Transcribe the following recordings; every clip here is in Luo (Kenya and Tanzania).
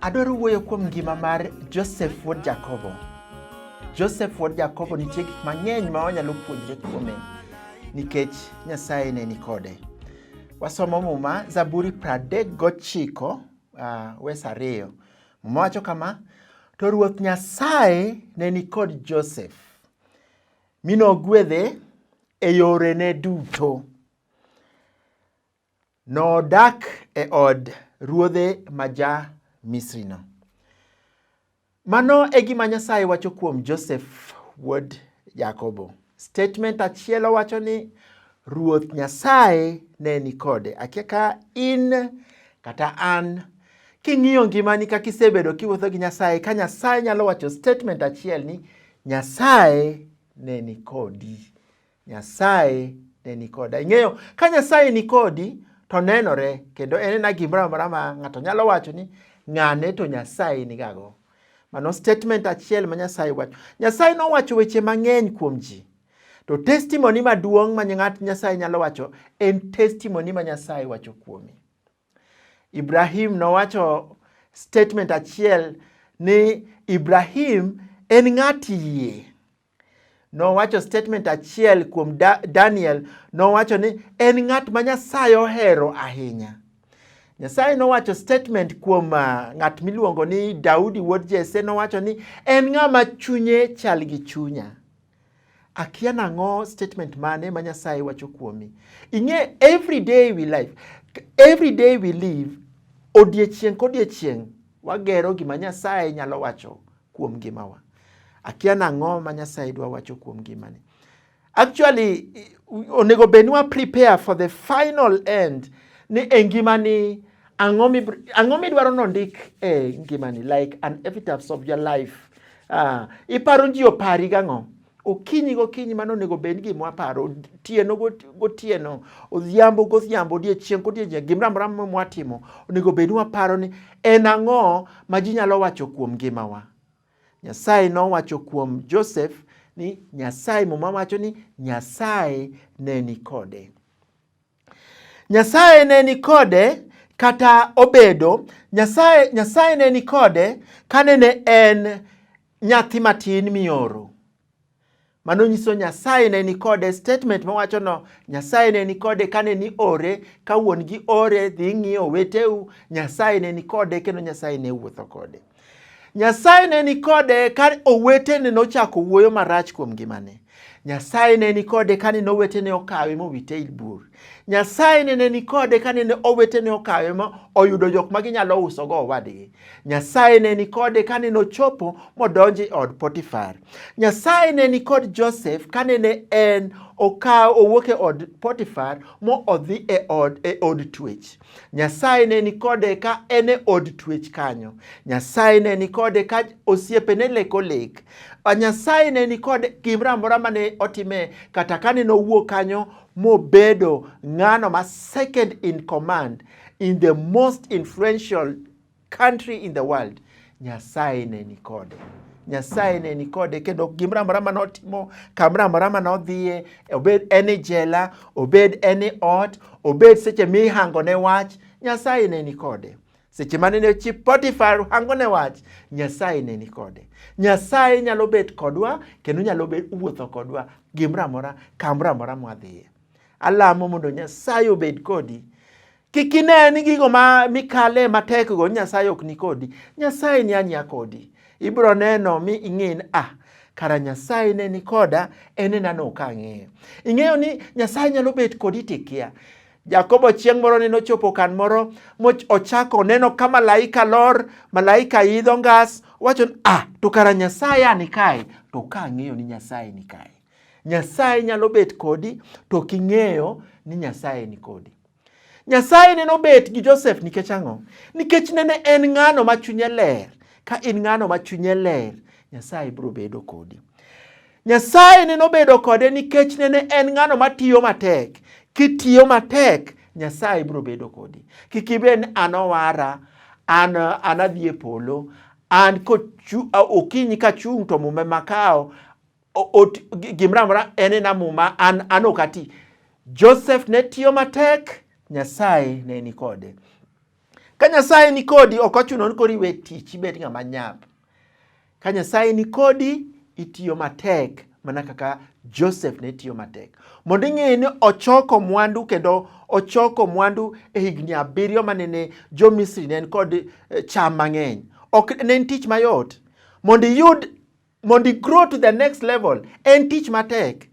Adwaro wuoyo kuom ngima mar Joseph wuod Jakobo. Joseph wuod Jakobo nitie gik mang'eny ma wanyalo puonjre kuome nikech Nyasaye ne ni kode. Wasomo Muma Zaburi 39 uh, wes ariyo mowacho kama to ruoth nyasaye ne nikod joseph mi nogwedhe e yorene duto nodak e od ruodhe ma ja misrino Mano e gima Nyasaye wacho kuom Josef wuod Jakobo. Statement achiel owacho ni Ruoth Nyasaye ne ni kode. Akia ka in kata an king'iyo ngimani kaka isebedo kiwuotho gi Nyasaye, ka Nyasaye nyalo wacho statement achiel ni Nyasaye ne ni kodi. Nyasaye ne ni koda. Ing'eyo, ka Nyasaye ni kodi to nenore, kendo en ena gimoro amora ma ng'ato nyalo wacho ni ng'ane to Nyasaye nigago. Mano statement achiel ma Nyasaye wacho. Nyasaye nowacho weche mang'eny kuom ji. To testimony maduong' ma ng'at Nyasaye nyalo wacho en testimony ma Nyasaye wacho kuomi. Ibrahim nowacho statement achiel ni Ibrahim en ng'at yie. nowacho statement achiel kuom da, Daniel nowacho ni en ng'at ma Nyasaye ohero ahinya. Nyasaye nowacho statement kuom uh, ng'at miluongo ni Daudi wuod Jesse nowacho ni en ng'ama chunye chal gi chunya. Akia nang'o statement mane ma Nyasaye wacho kuomi. Ing'e every day we live, every day we live, odiechieng' kodiechieng' wagero gima Nyasaye nyalo wacho kuom ngimawa. Akia nang'o ma Nyasaye dwa wacho kuom ngimani. Actually, onego bed ni wa prepare for the final end ni e ngimani ang'o midwaro nondik e ngimani like an epitaph of your life. Uh, iparo ji opari gang'o? okinyi gokinyi mano onego bed ni gima waparo otieno gotieno odhiambo godhiambo odiechieng' kodiechieng' gimoro amora mwatimo onego bed ni waparo ni en ang'o ma ji nyalo wacho kuom ngimawa nyasaye nowacho kuom joseph ni nyasaye muma wacho ni nyasaye ne ni kode Nyasaye ne ni kode kata obedo Nyasaye, Nyasaye ne ni kode kane ne en nyathi matin mioro. Mano nyiso Nyasaye ne ni kode. Statement mawacho no, Nyasaye ne ni kode kane ni ore, ka wuon gi ore dhi ng'iyo weteu, Nyasaye ne ni kode kendo Nyasaye ne wuotho kode. Nyasaye ne ni kode ka owetene nochako wuoyo marach kuom ngimane. Nyasaye ne ni kode ka nene owetene okawe mowite e bur. Nyasaye ne ni kode ka nene owetene okawe ma oyudo jok ma ginyalo usogo owadgi. Nyasaye ne ni kode ka nene ochopo modonjo e od Potifar. Nyasaye ne ni kod Joseph ka nene en okawo owuok e od Potifar mo odhi e od, e od twech. Nyasaye ne nikode ka en e od twech kanyo. Nyasaye ne nikode ka osiepe ne leko lek. Nyasaye ne nikode gimoro amora ma ne otime kata ka ne nowuok kanyo mobedo ng'ano ma second in command in the most influential country in the world Nyasaye ne ni kode. Nyasaye ne ni kode kendo gimoro amora ma notimo, kamoro amora ma nodhiye, obed en e jela, obed en e ot, obed seche mihango ne wach, Nyasaye ne ni kode. Seche mane ne chi Potifar hango ne wach, Nyasaye ne ni kode. Nyasaye nyalo bet kodwa kendo nyalo bet wuotho kodwa gimoro amora kamoro amora mwadhiye. Alamo mondo Nyasaye obed kodi Kik ine ni gigo ma mikale matek go Nyasaye ok ni kodi. Nyasaye ni anya kodi. Ibro neno mi ing'e ni ah, kara Nyasaye ne ni koda, en ena no ka ang'eyo. Ing'eyo ni Nyasaye nyalo bet kodi tikia. Jakobo chieng' moro ne nochopo kan moro mochako neno ka malaika lor, malaika idho ngas, wacho ni ah, to kara Nyasaye ani kae, to ka ang'eyo ni Nyasaye ni kae. Nyasaye nyalo bet kodi to king'eyo ni Nyasaye ni kodi. Nyasaye neno bet gi Josef nikech ang'o? Nikech nene en ng'ano ma chunye ler. Ka in ng'ano ma chunye ler, Nyasaye biro bedo kodi. Nyasaye neno bedo kode nikech nene en ng'ano ma tiyo matek. Kitiyo matek, Nyasaye biro bedo kodi. Kik ibed ni an owara, an anadhi e polo, an okinyi kachung' to mume makawo, gimoro amora en ena muma an, an ok ati. Joseph ne tiyo matek, Nyasaye ne ni kode. Ka Nyasaye ni kodi, ok ochuno ni koro iwe tich ibed ng'ama nyap. Ka Nyasaye ni kodi, itiyo matek mana kaka Joseph ne tiyo matek. Mondo ing'e ni ochoko mwandu kendo ochoko mwandu e higni abiriyo manene jo Misri ne en kod eh, cham mang'eny. Ok ne en tich mayot. Mondo iyud mondo i-grow to the next level en tich matek.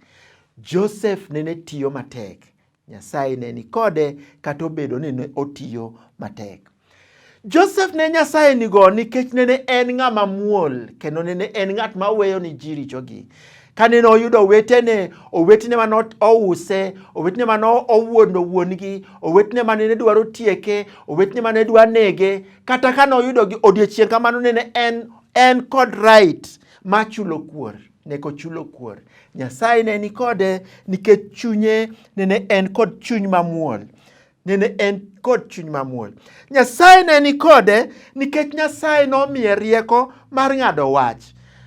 Joseph nene tiyo matek. Nyasaye ne ni kode kata obedo ni ne otiyo matek. Joseph ne Nyasaye nigo nikech nene en ng'ama muol kendo nene en ng'at ma weyo ni ji richogi. Kane noyudo owetene, owetene ma nouse, owetene ma nowuondo wuon-gi, owetene ma nene dwaro tieke, owetene ma ne dwa nege, kata ka noyudogi odiechieng' kamano nene en En kod right ma chulo kuor ne kochulo kuor. Nyasaye ne ni kode nikech chunye nene en kod chuny mamuol. Nene en kod chuny mamuol. Nyasaye ne ni kode nikech Nyasaye nomiye rieko mar ng'ado wach.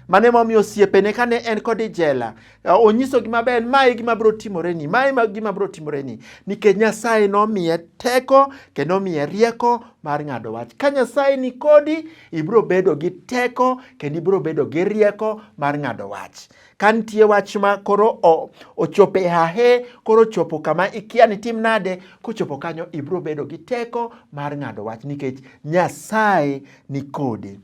Mane momiyo osiepene kane en kod ijela Onyisogi maber, ma e gima biro timoreni, ma e gima biro timoreni, nikech Nyasaye nomiye teko kendo omiye rieko mar ng'ado wach. Ka Nyasaye ni kodi, ibiro bedo gi teko kendo ibiro bedo gi rieko mar ng'ado wach. Ka nitie wach ma koro ochopo e hahe, koro ochopo kama ikia ni tim nade, kochopo kanyo ibiro bedo gi teko mar ng'ado wach nikech Nyasaye ni kode.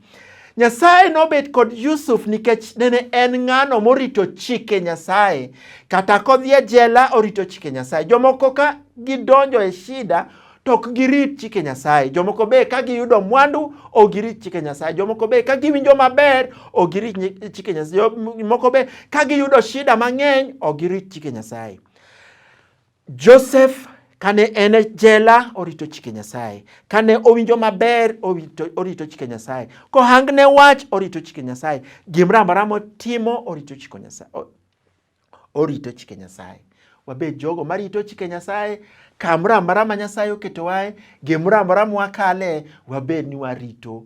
Nyasaye nobet kod Yusuf nikech nene en ng'ano morito chike Nyasaye. Kata kodhi e jela orito chike Nyasaye. Jomoko ka gidonjo e shida to ok girit chike Nyasaye. Jomoko be ka giyudo mwandu ok girit chike Nyasaye. Jomoko be ka giwinjo maber ok girit chike Nyasaye. Jomoko be ka giyudo shida mang'eny ok girit chike Nyasaye. Joseph kane en e jela orito chike Nyasaye, kane owinjo maber orito, orito chike Nyasaye, kohangne wach orito chike Nyasaye, gimoro amora motimo orito chike Nyasaye, orito chike Nyasaye. Wabed jogo marito chike Nyasaye kamoro amora ma Nyasaye oketowae, gimoro amora mwakale, wabed ni warito